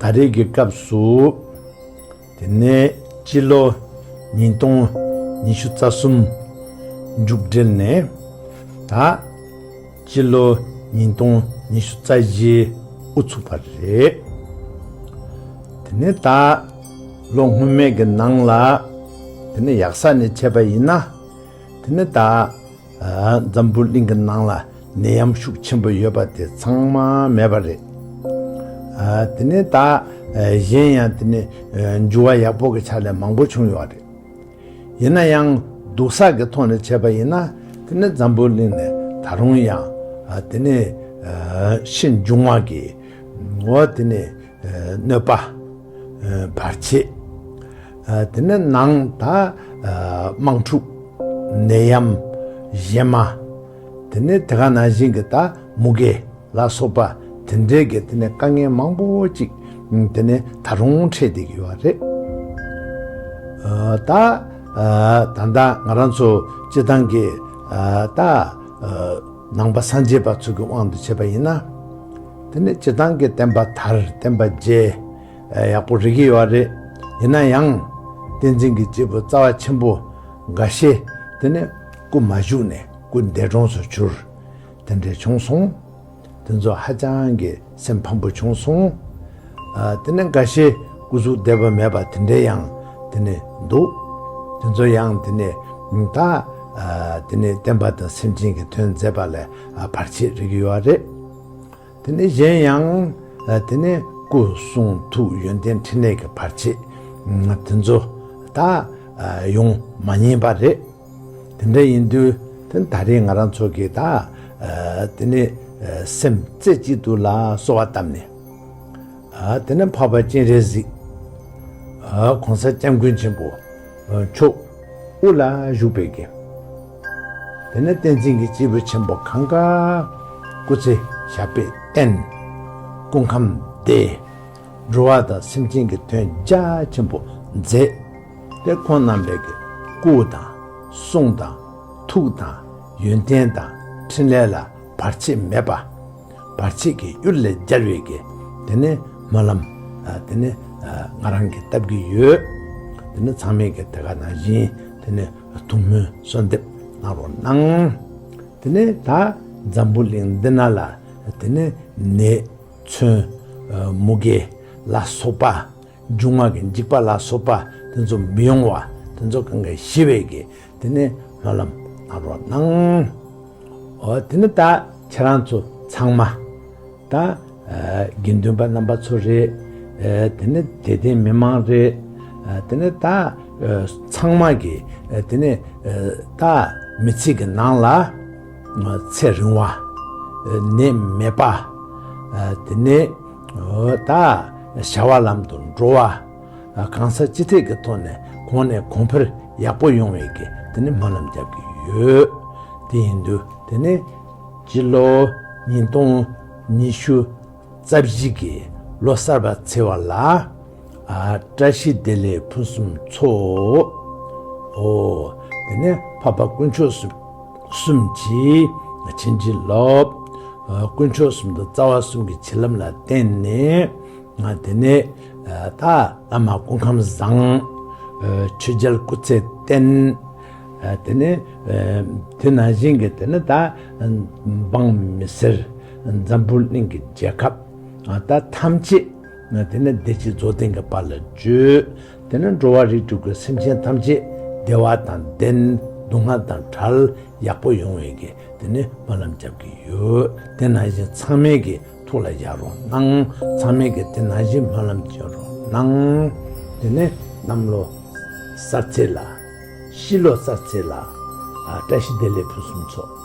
ད་རེས་ཀྱི་སྐབས་སུ་དེ་ནས་སྤྱི་ལོ་ཉིས་སྟོང་ཉི་ཤུ་རྩ་གསུམ་མཇུག་སྒྲིལ་ནས་ད་སྤྱི་ལོ་ཉིས་སྟོང་ཉི་ཤུ་རྩ་བཞི་དབུ་ཚུགས་པ་རེད། དེ་ནས་ད་ལོ་སྔོན་མའི་གི་ནང་ལ་དེ་ནས་ཡག་ས་ནས་བྱས་པ་ཡིན་ན། དེ་ནི་ད་འཛམ་བུ་གླིང་གི་ནང་ལ་ནད་ཡམས་ཤུགས་ཆེན་པོ་ཡོད་པ་དེ་ཚང་མ་མེད་པ་རེད། དེ་ནི་ད་གཞན་ཡང་དེ་ནི་འགྱུར་བ་ཡག་པོ་གི་ཆ་ལས་མང་པོ་བྱུང་ཡོད་རེད། ཡིན་ན་ཡང་སྡུག་བསགས་ཀྱི་ཐོག་ནས་བྱས་པ་ཡིན་ན་དེ་ནི་འཛམ་བུ་གླིང་ནས་ད་རུང་ཡང་དེ་ནི་ཤི་འབྱུང་བ་གི་འོ་དེ་ནི། གནོད་པ་བར་བྱེད། དེ་ནས་ནང་དང་དམངས་ཕྲུག་ནད་ཡམས་གཞན་མ། དེ་ནས་དེ་ག་ནང་བཞིན་གྱི་ད་མུ་གེ་ལ་སོགས་པ་དེ་འདྲའི་གྱི་དེ་ནས་དཀའ་ངལ་མང་པོ་ཅིག་དེ་ནས་ད་རུང་འཕྲད་དེ་གི་ཡོད་རེད། ད་ད་ང་རང་ཚོ་སྤྱི་བཏང་གི་ད། ནང་པ་སངས་རྒྱས་པ་ཚུལ་གྱི་དབང་དུ་བྱས་པ་ཡིན་ན། དེ་ནི་སྤྱི་བཏང་གི་བསྟན་པ་དར་བསྟན་པ་རྒྱས་ཡག་པོ་རིག་གི་ཡོད་རེད། ཡིན་ན་ཡང། བསྟན་འཛིན་གྱི་སྐྱེས་བུ་རྩ་བ་ཆེན་པོ་འགའ་ཤས་དེ་ནི་སྐུ་མ་བཞུགས་ནས་སྐུ་འདས་གྲོངས་སུ་གྱུར། དེ་འདྲས་བྱུང་སོང། དེ་ཚོ་ཧ་ཅང་གི་སེམས་ཕམ་པོ་བྱུང་སོང། དེ་ནས་འགའ་ཤས་སྐུ་གཟུགས་བདེ་བ་མེད་པ་དེ་འདྲའི་ཡང་དེ་ནས་འདུག། དེ་ཚོ་ཡང་དེ་ནས་ད། དེ་ནས་བསྟན་པ་དང་སེམས་ཅན་གྱི་དོན་མཛད་པ་ལས་བར་ཆད་རིགས་ཡོད་བ་རེད། དེ་ནས་གཞན་ཡང། དེ་ནས་སྐུ་གསུང་ཐུགས་ཡོན་ཏན་ཕྲིན་ལས་ཀྱི་བར་ཆད། དེ་ཚོ་ད། ཡོང་མ་ཉེས་པ་རེད། དེ་འདྲ་ཡིན་དུས་དེ་ད་རེས་ང་རང་ཚོ་གིས་ད་དེ་ནས་སེམས་རྩེ་གཅིག་ཏུ་ལ་གསོལ་བ་བཏབ་ནས། དེ་ནས་འཕགས་པ་སྤྱན་རས་གཟིགས། གོང་ས་སྐྱབས་མགོན་ཆེན་པོ་མཆོག་དབུ་ལ་བཞུགས་པའི་དགེ། དེ་ནས་བསྟན་འཛིན་གྱི་སྤྱིལ་བུ་ཆེན་པོ་གངས་དཀར་སྐུ་ཚེ་ཞབས་པད་བརྟན། སྐུ་ཁམས་བདེ། འགྲོ་བ་དང་སེམས་ཅན་གྱི་དོན་རྒྱ་ཆེན་པོ་མཛད། དེ་ཁོང་རྣམ་པས་ཀྱི་སྐུ་དང། གསུང་དང། ཐུགས་དང། ཡོན་ཏན་དང། ཕྲིན་ལས་ལ་བར་ཆད་མེད་པ། བར་ཆད་ཀྱི་གཡུལ་ལས་སྦྱར་བས་ཀྱི། དེ་ནི་སྨོན་ལམ། དེ་ནི་ང་རང་གིས་བཏབ་ཀྱི་ཡོད། དེ་ནི་ཚང་མས་ཀྱི་དེ་ག་ན་བཞིན་དེ་ནི་ཐུགས་སྨོན་གསོལ་འདེབས་གནང་རོགས་གནང། དེ་ནི་ད་འཛམ་བུ་གླིང་འདི་ན་ལ་དེ་ནི་ནད་མཚོན། མུ་གེ་ལ་སོགས་པ། འཇུག་ངག་གི་འཇིགས་པ་ལ་སོགས་པ་དེ་ཚོ་མི་ཡོང་བ་དེ་ཚོ་གང་གཱའི་ཞི་བའི་གེགས་དེ་ནི་སྨོན་ལམ་གནང་རོགས་གནང། འོ་དེ་ནི་ད་ཁྱེད་རང་ཚོ་ཚང་མ་ད་དགེ་འདུན་པ་རྣམ་པ་ཚོ་རེད། དེ་ནི་དད་ལྡན་མི་མང་རེད། དེ་ནི་ད་ཚང་མ་གི་དེ་ནི་ད་མི་ཚེ་གི་ནང་ལ་ཚེ་རིང་བ་ནད་མེད་པ་དེ་ནི། ད་བྱ་བ་ལམ་དུ་འགྲོ་བ། གང་ཟག་སྤྱི་ཐེག་གི་ཐོག་ནས་གོང་ནས་གོང་འཕེལ་ཡག་པོ་ཡོང་བའི་གི་དེ་ནི་སྨོན་ལམ་རྒྱབ་ཀྱི་ཡོད། དེ་ཡིན་དུས་དེ་ནི་སྤྱི་ལོ་ཉིས་སྟོང་ཉི་ཤུ་རྩ་བཞི་གི་ལོ་གསར་པ་ཚེས་བར་ལ། བཀྲ་ཤིས་བདེ་ལེགས་ཕུན་སུམ་ཚོགས། ཧོ། དེ་ནས་འཕགས་པ་དཀོན་མཆོག་གསུམ་གྱིས་བྱིན་གྱིས་རློབས། དཀོན་མཆོག་གསུམ་དང་རྩ་བ་གསུམ་གྱི་བྱིན་རླབས་ལ་བརྟེན་ནས། དེ་ནས་ད་བླ་མ་སྐུ་ཁམས་བཟང། ཆོས་རྒྱལ་སྐུ་ཚེ་བརྟན། དེ་ནས་དེ་ནང་བཞིན་གྱི་དེ་ནི་ད་འབངས་མི་སེར་འཛམ་བུ་གླིང་གི་རྒྱལ་ཁབ་ད་ཐམས་ཅད། ན་དེ་ནས་བདེ་སྐྱིད་རྫོགས་ལྡན་གྱི་བར་ལ་སྤྱོད། དེ་ནས་འགྲོ་བ་རིགས་དྲུག་གི་སེམས་ཅན་ཐམས་ཅད་བདེ་བ་དང་ལྡན། སྡུག་བསྔལ་དང་བྲལ། ཡག་པོ་ཡོང་བའི་གི་དེ་ནས་སྨོན་ལམ་རྒྱབ་ཀྱི་ཡོད། དེ་ནང་བཞིན་ཚང་མས་གི་ཐུགས་ལ་བཞག་རོགས་གནང། ཚང་མས་གི་དེ་ནང་བཞིན་སྨོན་ལམ་བྱོན་རོགས་གནང། དེ་ནས་གནམ་ལོ་གསར་ཚེས་ལ། ཤི་ལོ་གསར་ཚེས་ལ། བཀྲ་ཤིས་བདེ་ལེགས་ཕུན་སུམ་ཚོགས།